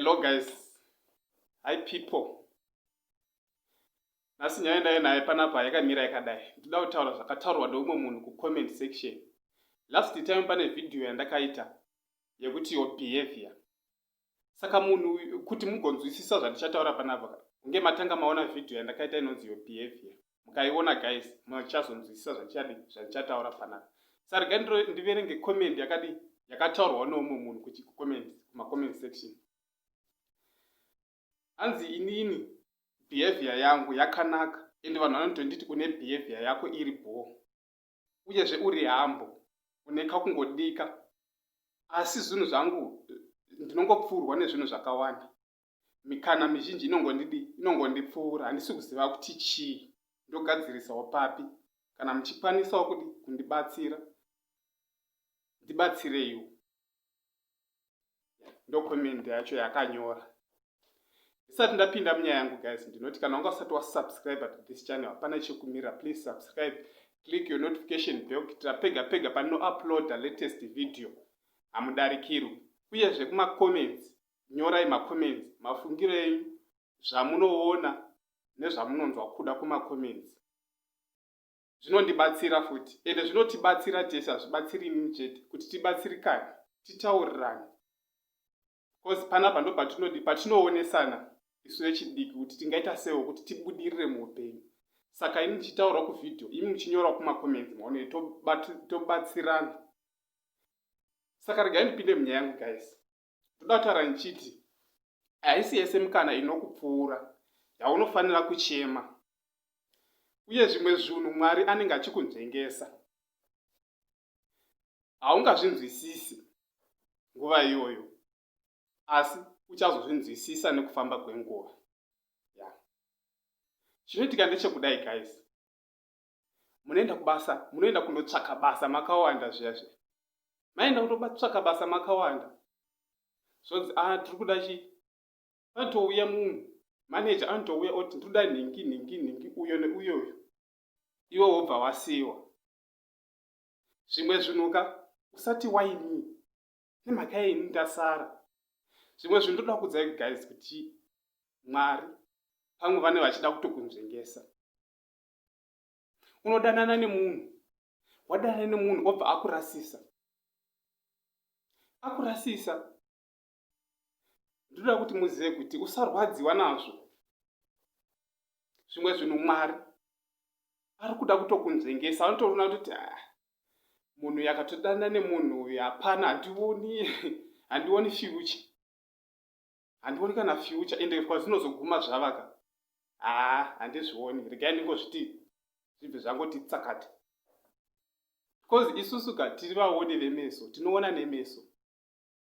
Hello guys. Hi people. Nhasi nyaya ndaye naye panapa yakamira yakadai. Ndida kutaura zvakataurwa neumwe munhu kucomment section. Last time pane video yandakaita yekuti your behavior. saka munhu kuti mugonzwisisa zvandichataura panapa kunge matanga maona vhidhiyo yandakaita inonzi your behavior mukaiona guys muchazonzwisisa zvandichadi zvandichataura panapa sa rega ndiverenge comment yakadi yakataurwa neumwe munhu kuti kucomment kumacomment section hanzi inini behavior yangu yakanaka ende vanhu vanotonditi une behavior yako iri bhoo uyezve uri hambo une kakungodika asi zvinhu zvangu ndinongopfuurwa nezvinhu zvakawanda mikana mizhinji inongondidi inongondipfuura handisi kuziva kuti chii ndogadzirisawo papi kana muchikwanisawo kudi kundibatsira ndibatsireiwo ndocoment yacho yakanyora ndisati ndapinda munyaya yangu guys ndinoti kana wanga usati wasubscribe to this channel hapana chekumira please subscribe click your notification bell kuitira pega pega panouploada latest video hamudarikirwi uyezve kumacomments nyorai macomments mafungiro enyu zvamunoona nezvamunonzwa kuda kumacomments zvinondibatsira futi ende zvinotibatsira tese hazvibatsiri inini chete kuti tibatsirikane titaurirane bcause panapa ndo patinodi patinoonesana isu vechidiki kuti tingaita sewo kuti tibudirire muupenyu saka ini ndichitaura kuvhidhiyo imi muchinyora kumakomenzi maone tobatsirana saka regai ndipinde munyaya yangu guys ndoda kutaura ndichiti haisi yese mikana inokupfuura yaunofanira kuchema uye zvimwe zvinhu mwari anenge achikunzvengesa haungazvinzwisisi nguva iyoyo asi uchazozvinzwisisa nekufamba kwenguva chinoitika ndechekudai guys munoenda kubasa munoenda kundotsvaka basa makawanda zviya zviya maenda kutotsvaka basa makawanda zvonzi a ah, tiri kuda chii anotouya munhu maneja anotouya oti ndiri kuda nhingi nhingi nhingi uyo neuyoyo iwe wobva wasiyiwa zvimwe zvinhuka usati waini nemhaka yeini ndasara zvimwe zvinhu ndoda kuudzai guys kuti mwari pamwe vane vachida kutokunzvengesa unodanana nemunhu wadanana nemunhu obva akurasisa akurasisa ndinoda kuti muzive kuti usarwadziwa nazvo zvimwe zvinhu mwari ari kuda kutokunzvengesa anotoona kuti ah, munhu yakatodanana nemunhu uyu hapana handioni handioni fyucha Handioni kana future ende kwazvinozoguma zvavaka haa handizvioni regai ndingozviti zvibve zvangoti tsakati bcause isusu ka tiri vaoni vemeso tinoona nemeso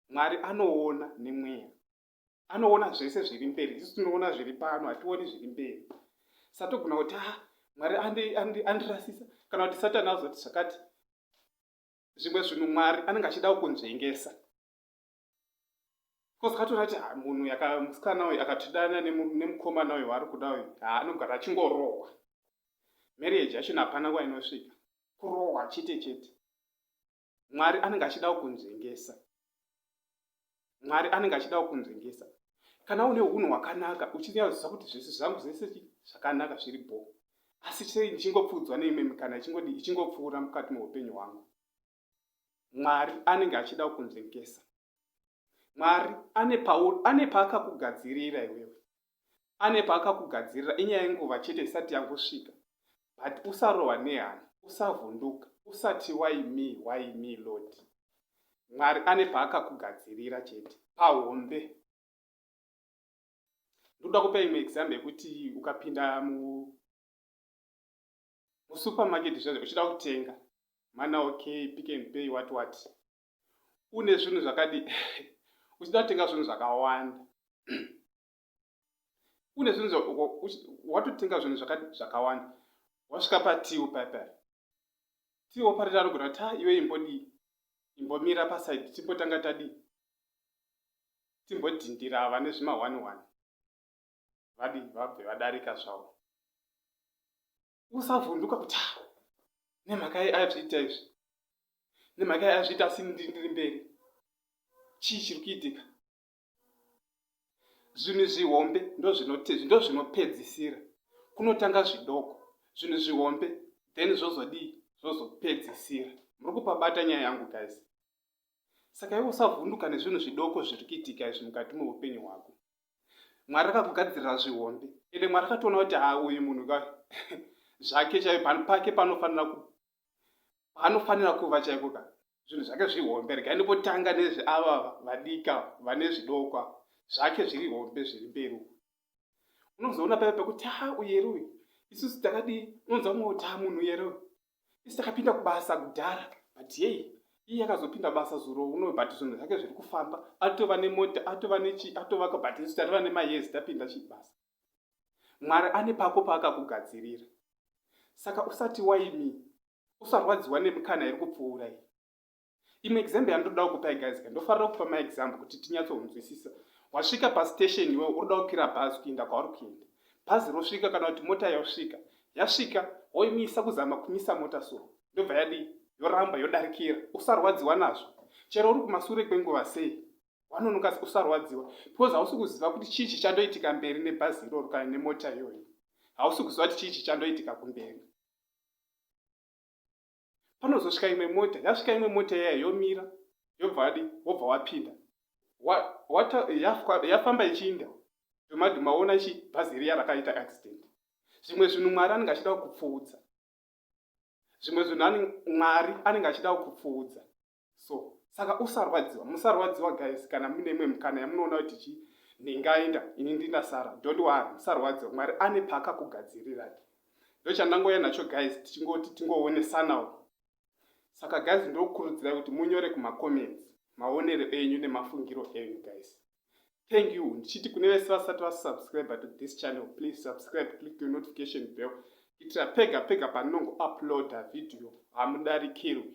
mwari anoona nemweya anoona zvese zviri mberi isu tinoona zviri pano hationi zviri mberi satogona kuti ha ah, mwari andirasisa kana kuti satani azoti zvakati zvimwe zvinhu mwari anenge achida kunzvengesa coz katoona kuti ah, munhu yakamusikana uyu akatidana nemukomana uyu waari kuda uyu ah, anogara achingorohwa marriage yachona hapana nguva inosvika kurohwa chete chete mwari anenge achida kukunzvengesa mwari anenge achida kukunzvengesa kana une unhu hwakanaka uchinyaudzisa kuti zvese zvangu zvese zvakanaka zviri bho asi sei ndichingopfuudzwa neimwe mikana ichingodi ichingopfuura mukati meupenyu hwangu mwari anenge achida kukunzvengesa mwari ane pauri ane paakakugadzirira iwewe ane paakakugadzirira inyaya yenguva chete isati yangosvika but usarohwa nehana usavhunduka usati waimi waimi lord mwari ane paakakugadzirira chete pahombe ndoda kupa imwe example yekuti ukapinda mu Musupermarket zviya uchida kutenga mana okay pick and pay what what une zvinhu zvakadi uchida kutenga zvinhu zvakawanda une zvinhu watotenga zvinhu zvakawanda wasvika patiwo paipai tiwo parira anogona kuti ha iwe imbodii imbomira pasaidi timbotanga tadii timbodhindira vane zvima one one vadii vabve vadarika zvavo usavhunduka kuti ah, nemhaka yei azviita izvi nemhaka yei azviita asi ndiri ndiri mberi chii chiri kuitika zvinhu zvihombe ndozvinopedzisira kunotanga zvidoko zvinhu zvihombe then zvozodii zvozopedzisira muri kupabata nyaya yangu guys saka iwe usavhunduka nezvinhu zvidoko zviri kuitika izvi mukati meupenyu hwako mwari akakugadzirira zvihombe ende mwari akatoona kuti ha uyu munhu ka zvake chaiyo pano pake panofanira panofanira kuva chaiko ka zvinhu zvake zvihombe regai ndipotanga nezve ava vadika vane zvidokwa zvake zviri hombe zviri mberi unozoona paive pekuti ha uyeri uyu isusu takadii unonzwa mwotaa munhu uyeri uyu isi takapinda kubasa kudhara but yei iye akazopinda basa zuro uno but zvinhu zvake zviri kufamba atova nemota atova nechi atovaka but isu tatova nemayezi tapinda chii basa mwari ane pako paakakugadzirira saka usati waimi usarwadziwa nemikana iri kupfuura iyi imwe example yandoda kukupai guys ka ndofarira kupa maexample kuti tinyatsohunzwisisa wasvika pastation iwewe uroda kukwira bhazi kuenda kwauri kuenda bhazi rosvika kana kuti mota yosvika yasvika woimisa kuzama kumisa mota so ndobva yadii yoramba yodarikira usarwadziwa nazvo chero uri kumasure kwenguva sei wanonoka usarwadziwa because hausi kuziva kuti chii chichandoitika mberi nebhazi iroro kana nemota iyoyo hausi kuziva kuti chii chichandoitika kumberi panozosvika imwe mota yasvika imwe mota yaya yomira yobva adi wobva wapinda yafamba ichiinda domadu maona chi bhazi riya rakaita accident zvimwe zvinhu mwari anenge achida kukupfuudza zvimwe zvinhu mwari anenge achida kukupfuudza so saka usarwadziwa musarwadziwa guys kana mune imwe mukana yamunoona kuti chi ndingaenda ini ndinasara don't worry musarwadziwa mwari ane paakakugadzirirai ndochandangouya nacho guys tichingoti tingoonesanawo saka guys ndokurudzirai kuti munyore kumacomments maonero enyu nemafungiro enyu guys thank you ndichiti kune vese vasati vasubscribe to this channel please subscribe click the notification bell kuitira pega pega panongo uploada video hamudarikirwi